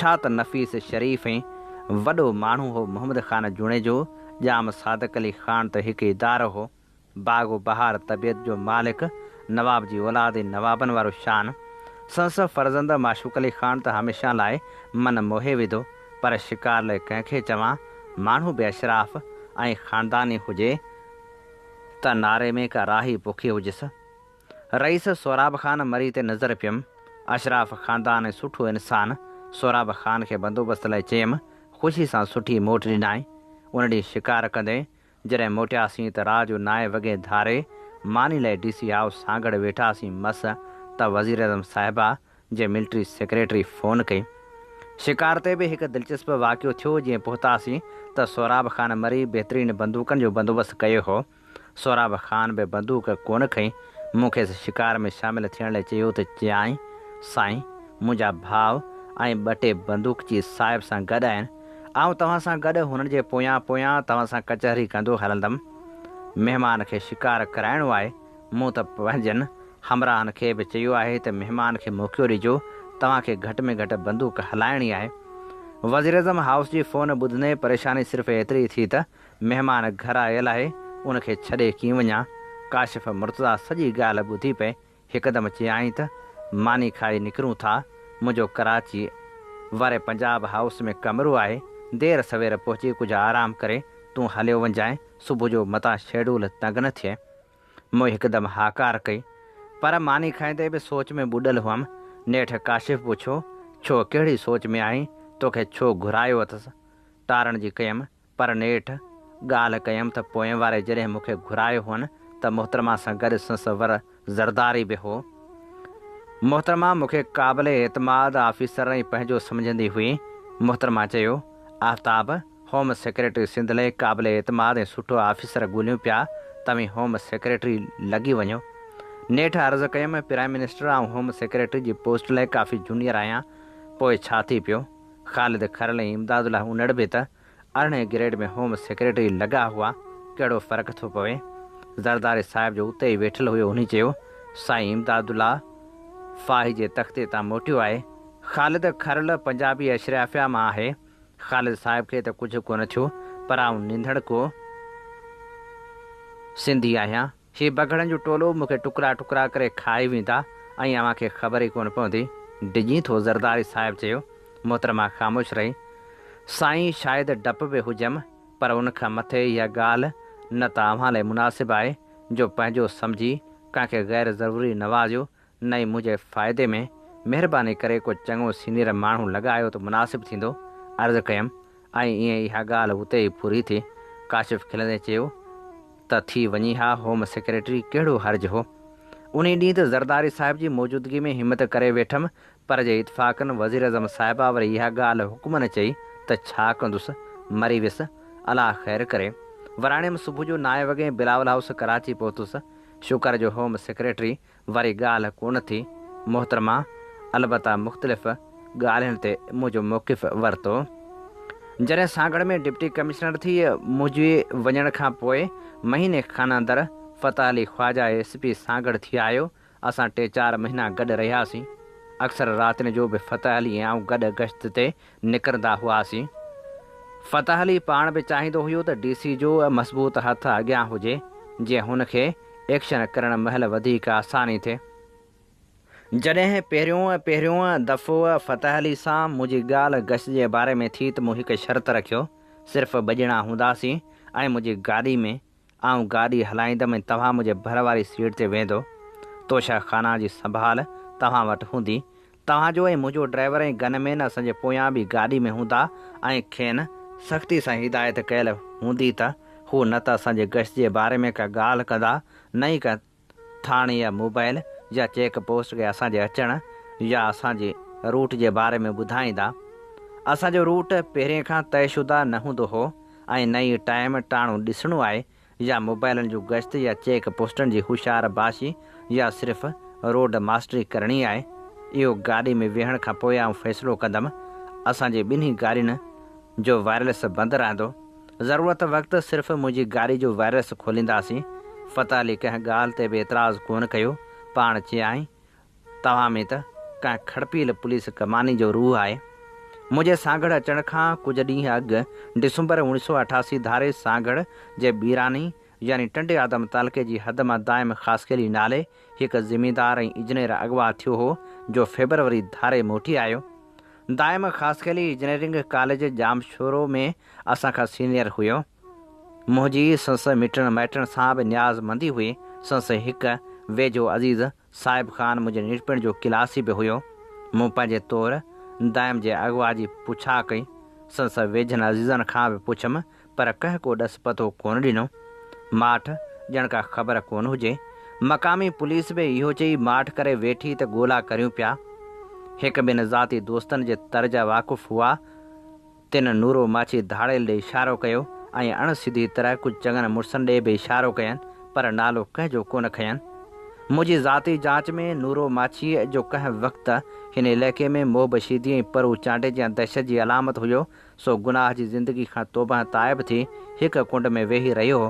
ڇا ته نفيس شريف ۽ وڏو ماڻهو هو محمد خان جوڻيجو، ڄام صادق علي خان ته هڪ ادارو هو، باغ و بهار طبيعت جو مالڪ، نواب جي اولاد ۽ نوابن وارو شان. سنس فرزند معشوق علي خان ته هميشه لاء من موهي وڌو، پر شڪار لئه ڪنهن کي چوان، ماڻهو به اشراف ۽ خانداني هجي ته ناري ۾ ڪا راهي پوکي هجس. رئيس سهراب خان مري تي نظر پيم. اشراف خاندان ۽ سٺو انسان سهراب خان کي بندوبست لاء چيم، خوشي سان سٺي موٽ ڏنائين. ان ڏينهن شڪار ڪندي جڏهن موٽياسين ته رات جو نائين وڳي ڌاري ماني لاء ڊي سي هائوس سانگهڙ ويٺاسين مس ته وزيراعظم صاحبه جي ملٽري سيڪريٽري فون ڪئي. شڪار تي به هڪ دلچسپ واقعو ٿيو جيئن پهتاسين ته سهراب خان مري بهترين بندوقن جو بندوبست ڪيو هو. سهراب خان به بندوق ڪونه کنئي، مون کيس شڪار ۾ شامل ٿيڻ لاء چيو ته چيائين، سائين، منهنجا ڀاء ۽ ٻه ٽي بندوقچي صاحب سان گڏ آهن، آئون توهان سان گڏ هنن جي پويان پويان توهان سان ڪچهري ڪندو هلندم. مهمان کي شڪار ڪرائڻو آهي، مون ته پنهنجن همراهن کي به چيو آهي ته مهمان کي موقعو ڏجو، توهان کي گهٽ ۾ گهٽ بندوق هلائڻي آهي. وزيراعظم هائوس جي فون ٻڌندي پريشاني صرف ايتري ٿي ته مهمان گهر آيل آهي، ان کي ڇڏي ڪين وڃان. ڪاشف مرتضيٰ سڄي ڳالهه ٻڌي پئي هڪدم چيائين ته، ماني کائي نڪرون ٿا. منهنجو ڪراچيء واري پنجاب هائوس ۾ ڪمرو آهي. دير سوير پهچي ڪجهه آرام ڪري تون هليو وڃجانء، صبح جو متان شيڊول تنگ نه ٿئي. مون هڪدم هاڪار ڪئي، پر ماني کائيندي به سوچ ۾ ٻڏل هئم. نيٺ ڪاشف پڇيو، ڇو ڪهڙي سوچ ۾ آهين؟ توکي ڇو گهرايو اٿس؟ ٽارڻ جي ڪيم، پر نيٺ ڳالهه ڪيم ته پوئين واري جڏهن مون کي گهرايو هئن ته محترمه سان گڏ سنس ور زرداري به هو. محترمه مون کي قابل اعتماد آفيسر ۽ پنهنجو سمجهندي هئي. محترمه چيو، آفتاب، هوم سيڪريٽري سنڌ لئه قابل اعتماد ۽ سٺو آفيسر ڳولهيون پيا، توهين هوم سيڪريٽري لڳي وڃو. نيٺ عرض ڪيم، پرائيم منسٽر، آئون هوم سيڪريٽري جي پوسٽ لئه ڪافي جونيئر آهيان، پوء ڇا ٿي پيو؟ خالد کرل ۽ امداد الله انڙ به ته ارڙهين گريڊ ۾ هوم سيڪريٽري لڳا هئا، ڪهڙو فرق ٿو پوي. زرداري صاحب جو اتي ئي ويٺل هيو هني چيو، سائين امداد الله فاهي جي تختي تان موٽيو آهي. خالد کرل پنجابي اشريافيا مان آهي. خالد صاحب کي ته ڪجهه ڪونه ٿيو پر آئون نينڌڙڪو سنڌي آهيان. هي بگهڙن جو ٽولو مون کي ٽڪرا ٽڪرا ڪري کائي ويندا ۽ اوهان کي خبر ئي ڪونه پوندي. ڊڄين ٿو زرداري صاحب چيو. محترمه خاموش رهي. سائين شايد ڊپ به هجيم پر ان کان مٿي اها ڳالهه نه ته اوهان لاء مناسب آهي جو پنهنجو سمجهي ڪنهن کي غير ضروري نوازيو نه ئي منهنجي فائدي ۾، مهرباني ڪري ڪو چڱو سينيئر ماڻهو لڳايو ته مناسب ٿيندو، عرض ڪيم ۽ ائين اها ڳالهه اتي ئي پوري ٿي، ڪاشف کلندي چيو ته ٿي وڃي ها، هوم سيڪريٽري ڪهڙو حرج هو. انهي ڏينهن ته زرداري صاحب جي موجودگي ۾ همت ڪري ويٺم پر جي اتفاقن وزيراعظم صاحبه وري اها ڳالهه حڪمن چئي ته ڇا ڪندس، مري ويس، الله خير ڪري. وراڻيم صبح جو نائين وڳي بلاول هائوس ڪراچي پهتس، شڪر جو هوم سيڪريٽري وري ڳالهه ڪونه ٿي محترمه، البته مختلف ڳالهين تي منهنجو موقف ورتو. جڏهن سانگهڙ ۾ ڊپٽي ڪمشنر ٿي منهنجي وڃڻ کان پوء مهيني کان اندر فتح علي خواجا ايس پي سانگهڙ ٿي آيو، اسان ٽي چار مهينا گڏ رهياسين. اڪثر راتين جو به فتح علي ۽ آئون گڏ گشت تي نڪرندا هئاسين. فتح علي پاڻ به چاهيندو هيو ته ڊي سي جو مضبوط هٿ اڳيان هجي جيئن هن کي ايڪشن ڪرڻ مهل وڌيڪ آساني ٿئي. جڏهن پهريون پهريون دفعو فتح علي سان منهنجي ڳالهه گش جي باري ۾ ٿي ته مون هڪ شرط رکيو صرف ٻه ڄڻا هونداسين ۽ منهنجي گاڏي ۾ آئون گاڏي هلائيندم ۽ توهان منهنجي ڀر واري سيٽ تي ويهندو. توشه خانا جي سنڀال توهان وٽ هوندي. توهان جو ۽ منهنجو ڊرائيور ۽ گن مين اسان جي پويان به گاڏي ۾ هوندا ۽ کين سختي سان هدايت ڪيل هوندي ته هو نه ته اسان جي گشت جي باري ۾ ڪا ڳالهه ڪندا نه ئي ڪنهن ٿاڻي يا موبائيل يا چيڪ پوسٽ کي اسان جي اچڻ يا اسان جي روٽ جي باري ۾ ٻڌائيندا. اسان جو روٽ پهرين کان طئي شده نه هوندو هو ۽ نه ئي ٽائيم ٽاڻو ڏسڻو آهي يا موبائيلن جون گشت يا چيڪ پوسٽن جي هوشيار باشي يا صرف روڊ ماسٽري ڪرڻي آهي. اهو گاڏي ۾ ويهڻ کان پوء آئون فيصلو ڪندم. اسان جي ٻنهي گاڏين جو وائرليس بند رهندو. ضرورت وقت صرف منهنجي گاڏي جو وائرس کولينداسين. فتح علي ڪنهن ڳالهه تي به اعتراض ڪونه ڪيو. پاڻ چيائين، توهان ۾ ته ڪنهن کڙپيل پوليس ڪماني جو روح آهي. منهنجي سانگهڙ اچڻ کان ڪجهه ڏينهن اڳ ڊسمبر اوڻيهه سؤ اٺاسي ڌاري سانگهڙ جي بيراني يعني ٽنڊي آدم تعلقي جي حد مان دائم خاصخيلي نالي هڪ زميندار ۽ اجنير اغوا ٿيو هو جو فيبروري ڌاري موٽي آيو. دائم خاصخيلي اجنيرنگ ڪاليج ڄامشورو ۾ اسان کان سينيئر هيو. منهنجي سنس مٽڻ مائٽڻ سان به نياز مندي هئي. سنس هڪ ويجهو عزيز صاحب خان منهنجي ننڍپڻ جو ڪلاسي به هيو. مون پنهنجي طور دائم جي اغوا جي پڇا ڪئي. سنس ويجهن عزيزن کان به پڇيم پر ڪنهن ڪو ڏس پتو ڪونه ڏنو. ماٺ ڄڻ ڪا خبر ڪونه هجي. مقامي پوليس به اهو چئي ماٺ ڪري ويٺي ته ڳولا ڪريون پيا. هڪ ٻن ذاتي دوستن جي تر جا واقف هئا. تنھن نورو ماڇي ڌاڙيل ڏي اشارو ڪيو ۽ اڻ سڌي طرح ڪجھ چڱن مڙسن ڏي به اشارو ڪين پر نالو ڪنھن جو ڪونه کنين. منھنجي ذاتي جاچ ۾ نورو ماڇيء جو ڪنھن وقت ھن علئقي ۾ موھ بشيدي ۽ پرو چانڊي جيان دھشت جي علامت ھيو سو گناھ جي زندگي کان توبهه تائب ٿي ھڪ ڪنڊ ۾ ويھي رھيو ھو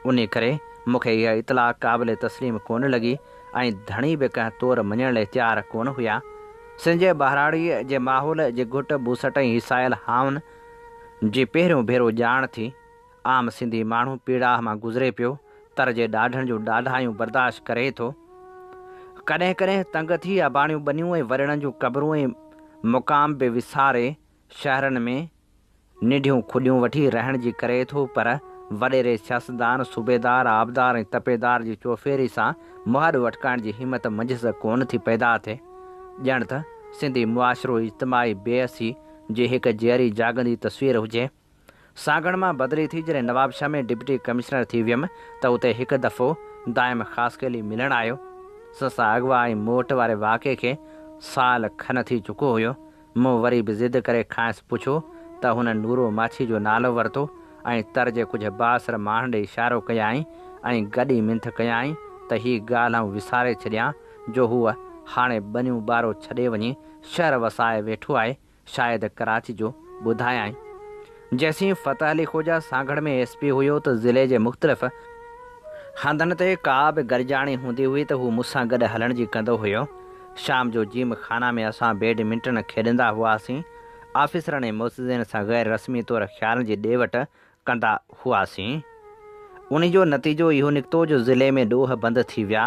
انھي ڪري مونکي اھا اطلاع قابل تسليم ڪونه لڳي ۽ ڌڻي به ڪنهن طور مڃڻ لئه تيار ڪونه هيا. سنجي ٻهراڙيء جي ماحول جي گهٽ ٻوسٽ ۽ هيسايل هانءن جي پهريون ڀيرو ڄاڻ ٿي. عام سنڌي ماڻهو پيڙاهه مان گذري پيو، تر جي ڏاڍن جون ڏاڍايون برداشت ڪري ٿو. ڪڏهن ڪڏهن تنگ ٿي اباڻيون ٻنيون ۽ وريڻن جون قبرون ۽ مقام به وساري شهرن ۾ ننڍيون کڏيون وٺي رهڻ جي ڪري ٿو پر وڏيري سياستدان، صوبيدار، آبدار ۽ تپيدار جي چوڦيري سان مهاڏ وٺڪائڻ جي همت منجهس ڪونه ٿي پيدا ٿئي. ڄڻ ته سنڌي معاشرو اجتماعي بيحسي جي هڪ جيئري جاڳندي تصوير هجي. سانگهڙ مان بدلي ٿي جڏهن نوابشاهه ۾ ڊپٽي ڪمشنر ٿي ويم ته اتي هڪ دفعو دائم خاصخيلي ملڻ آيو. سن سان اغوا ۽ موٽ واري واقعي کي سال کن ٿي چڪو هيو. مون وري به ضد ڪري کانئس پڇيو ته هن نورو ماڇي جو نالو ورتو ۽ تر جي ڪجهه بااثر ماڻهن ڏي اشارو ڪيائين ۽ گڏي منٿ ڪيائين ته هي ڳالهه آئون وساري ڇڏيان جو هو هاڻي ٻنيون ٻارو ڇڏي وڃي شهر وسائي ويٺو آهي شايد ڪراچي جو ٻڌايائين. جيسين فتح علي خوجا سانگهڙ ۾ ايس پي هيو ته ضلعي جي مختلف هنڌن تي ڪا به گڏجاڻي هوندي هئي ته هو مون سان گڏ هلڻ جي ڪندو هيو. شام جو جيم خانه ۾ اسان بيڊ منٽن کيڏندا هئاسين. آفيسرن ۽ معززين سان غير رسمي طور خيالن جي ڏي وٺ ڪندا هئاسين ان جو نتيجو اهو نڪتو جو ضلعي ۾ ڏوهه بند ٿي ويا،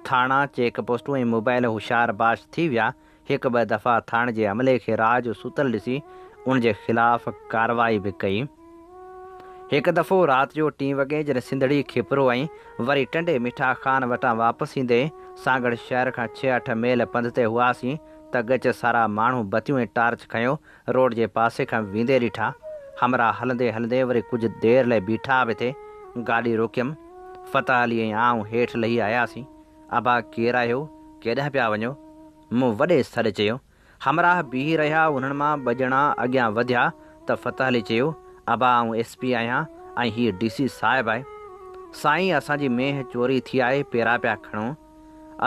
ٿاڻا، چيڪ پوسٽون ۽ موبائل هوشيار باش ٿي ويا، هڪ ٻه دفعا ٿاڻي جي عملي کي راهه جو ستل ڏسي ان جي خلاف ڪارروائي به ڪئي. هڪ دفعو رات جو ٽين وڳي جڏهن سنڌڙي کيپرو ۽ وري ٽنڊي مٺا خان وٽان واپس ايندي سانگهڙ شهر کان ڇهه اٺ ميل پنڌ تي هئاسين ته ڳچ سارا ماڻهو بتيون ۽ ٽارچ کنيو روڊ جي پاسي کان ويندي ڏٺا. همراهه هلندي هلندي وري ڪجهه دير لئه بيٺا به تي گاڏي روڪيم. فتح علي ۽ آئون هيٺ لهي آياسين. ابا ڪير آهيو؟ ڪيڏانهن پيا وڃو؟ مون وڏي سڏ چيو. همراهه بيهي رهيا انهن مان ٻه ڄڻا اڳيان وڌيا ته فتح علي چيو، ابا آئون ايس پي آهيان ۽ هيء ڊي سي صاحب آهي. سائين اسان جي مينهن چوري ٿي آهي پيرا پيا کڻو.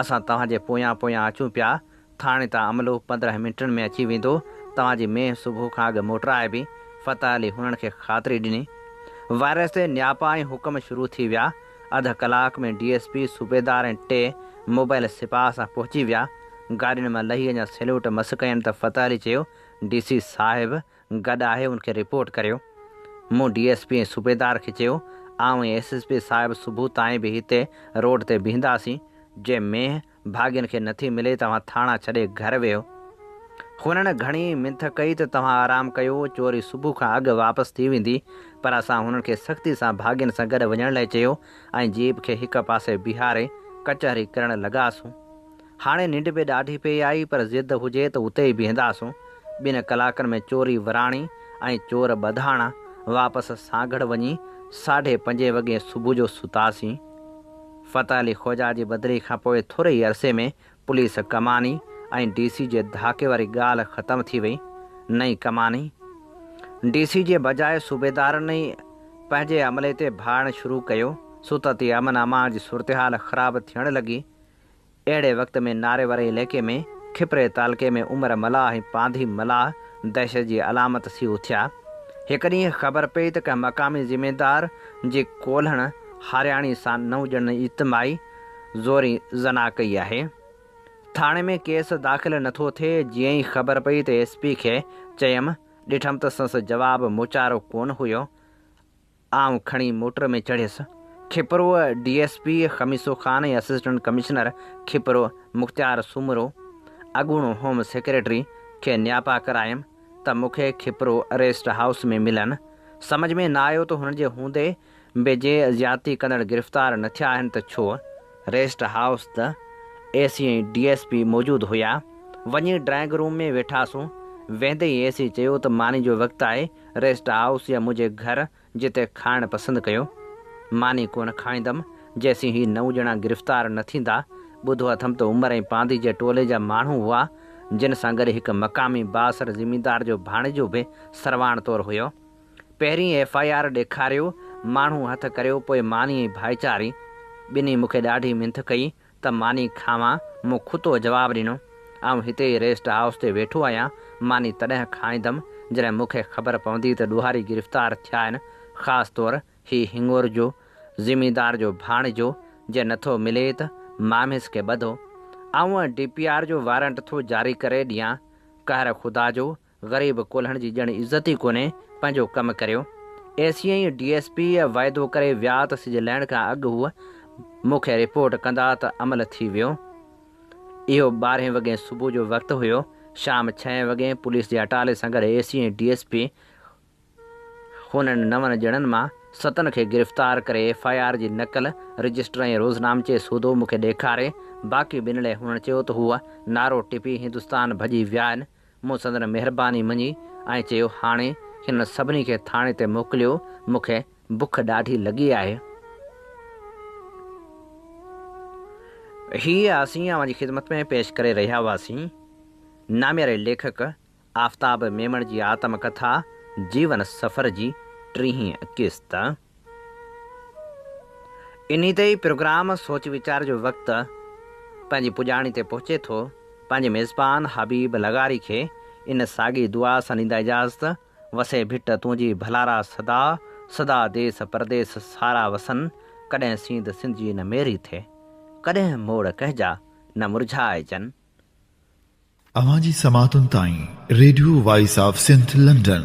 اسان توهان جي پويان پويان اچون پيا ٿاڻي تان عملو پندرهن منٽن ۾ اچي ويندو. توهان جي مينهن صبح کان اڳ موٽرائبي. فتح علي هنن کي خاطري ڏني. وائرس تي نياپا ۽ حڪم شروع ٿي ويا. اڌ ڪلاڪ ۾ ڊي ايس پي، صوبيدار ۽ ٽي موبائل سپاهه سان پهچي ويا. گاڏين مان لهي اڃا سيلوٽ مس ڪيم ته فتح علي چيو، ڊي سي صاحب گڏ آهي ان کي رپورٽ ڪريو. مون ڊي ايس پي ۽ صوبيدار کي چيو، آئون ۽ ايس ايس پي صاحب صبح تائين به هتي روڊ تي بيهنداسين. جي مينهن ڀاڳين کي نٿي ملي توهان ٿاڻا ڇڏي گهر ويهو. هنن گهڻي منٿ ڪئي ته توهان آرام ڪيو چوري صبح کان اڳ واپس ٿي ويندي پر اسان هنن کي سختي سان ڀاڳين سان گڏ وڃڻ لاء چيو ۽ جيپ کي هڪ پاسي بيهاري ڪچهري ڪرڻ لڳاسون. هاڻي ننڊ به ڏاڍي پئي آئي پر ضد هجي ته اتي ئي بيهنداسون. ٻن ڪلاڪن ۾ چوري وراڻي ۽ چور ٻڌاڻا واپس سانگهڙ وڃي ساڍي پنجين وڳي صبح جو ستاسين. فتح علي خوجا جي بدلي کان پوء ٿوري ئي عرصي ۾ پوليس ڪماني ۽ ڊي سي جي ڌاڪي واري ڳالهه ختم ٿي وئي. نئين ڪماني ڊي سي جي بجاء صوبيدارن ئي پنهنجي عملي تي ڀاڙڻ شروع ڪيو. سو ته تي امن امان جي صورتحال خراب ٿيڻ لڳي. اهڙي وقت ۾ ناريوري عليقي ۾ کپري تعلقي ۾ عمر ملاح ۽ پانڌي ملاح دهشت جي علامت ٿي اٿيا. هڪ ڏينهن خبر پئي ته ڪنهن مقامي زميندار جي ڪولهڻ هارياڻي سان نو ڄڻن اجتماعي زوري زنا ڪئي آهي. ٿاڻي ۾ ڪيس داخل نه ٿو ٿئي، جيئن ئي خبر پئي ته ايس پي کي چيم، ڏٺم ته سنس جواب موچارو ڪونه هيو. آئون کڻي موٽر ۾ چڙهيس. Khipro D S P Khamiso Khan ۽ assistant commissioner Khipro Mukhtiar Soomro, اڳوڻو هوم سيڪريٽري، کي نياپا ڪرايم ته مون کي کپرو ريسٽ هائوس ۾ ملن. سمجهه ۾ نه آيو ته هنن جي هوندي به جي زيادتي ڪندڙ گرفتار نه ٿيا آهن ته ڇو؟ ريسٽ هائوس ته A C ۽ D S P موجود هيا. وڃي ڊرائنگ روم ۾ ويٺاسون. ويندي ئي اي سي چيو ته ماني جو وقت آهي. ريسٽ هائوس يا منهنجي گهر جتي کائڻ پسند ڪيو. ماني ڪونه کائيندم جيسين هي نو ڄڻا گرفتار نه ٿيندا. ٻڌو اٿم ته عمر ۽ پانڌي جي ٽولي جا ماڻهو هئا، جن سان گڏ هڪ مقامي بااثر زميندار جو ڀاڻيجو به سرواڻ طور هيو. پهرين ايف آء آر ڏيکاريو، ماڻهو هٿ ڪريو پوء ماني ۽ ڀائيچاري. ٻنهي مون کي ڏاڍي منٿ ڪئي. ته ماني کاوان؟ مون کتو جواب ڏنو، آئون هتي ئي ريسٽ هائوس تي ويٺو آهيان، ماني تڏهن کائيندم جڏهن مون کي خبر پوندي ته ڏوهاري گرفتار ٿيا آهن، خاص طور هي هڱور جو، زميندار جو ڀاڻيجو، جي نٿو ملي ته ماميس کي ٻڌو. آئون ڊي پي آر جو وارنٽ ٿو جاري ڪري ڏيان، قهر خدا جو غريب ڪولهڻ جي ڄڻ عزت ئي ڪونهي، پنهنجو ڪم ڪريو. ايسيء ڊي ايس پيء وعدو ڪري ويا ته سج لهڻ کان اڳ هو مون کي رپورٽ ڪندا ته عمل ٿي ويو. اهو ٻارهين وڳين صبح جو وقت هيو. شام ڇهين وڳين پوليس جي اٽالي سان گڏ ايسيء ڊي ايس پي هن انهن نون ڄڻن مان ستن کي گرفتار ڪري ايف آء آر جي نقل، رجسٽر ۽ روزنامچي سوڌو مون کي ڏيکاري، باقي ٻن لئه هنن چيو ته هو نعرو ٽپي هندستان ڀڄي ويا آهن، مون سندن مهرباني مڃي ۽ چيو هاڻي هنن سڀني کي ٿاڻي تي موڪليو، مون کي بک ڏاڍي لڳي آهي. هيء اسين اوهان جي خدمت ۾ پيش ڪري رهيا هئاسين. نامياري ليکڪ آفتاب ميمڻ جي آتم ڪٿا جيون سفر جي ٽيهين قسط. انهي تي ئي پروگرام سوچ ويچار جو وقت پنهنجي پڄاڻي تي پهچي ٿو. پنهنجي ميزبان حبيب لغاري کي ان ساڳي دعا سان ڏيندا اجازت، وسي ڀٽ تنهنجي ڀلارا سدا سدا ديس پرديس سارا وسن، ڪڏهن سينڌ سنڌ جي نه ميري ٿئي، ڪڏهن موڙ ڪنهنجا نه مرجهائجن. اوهان جي سماعتن تائين radio voice of Sindh London.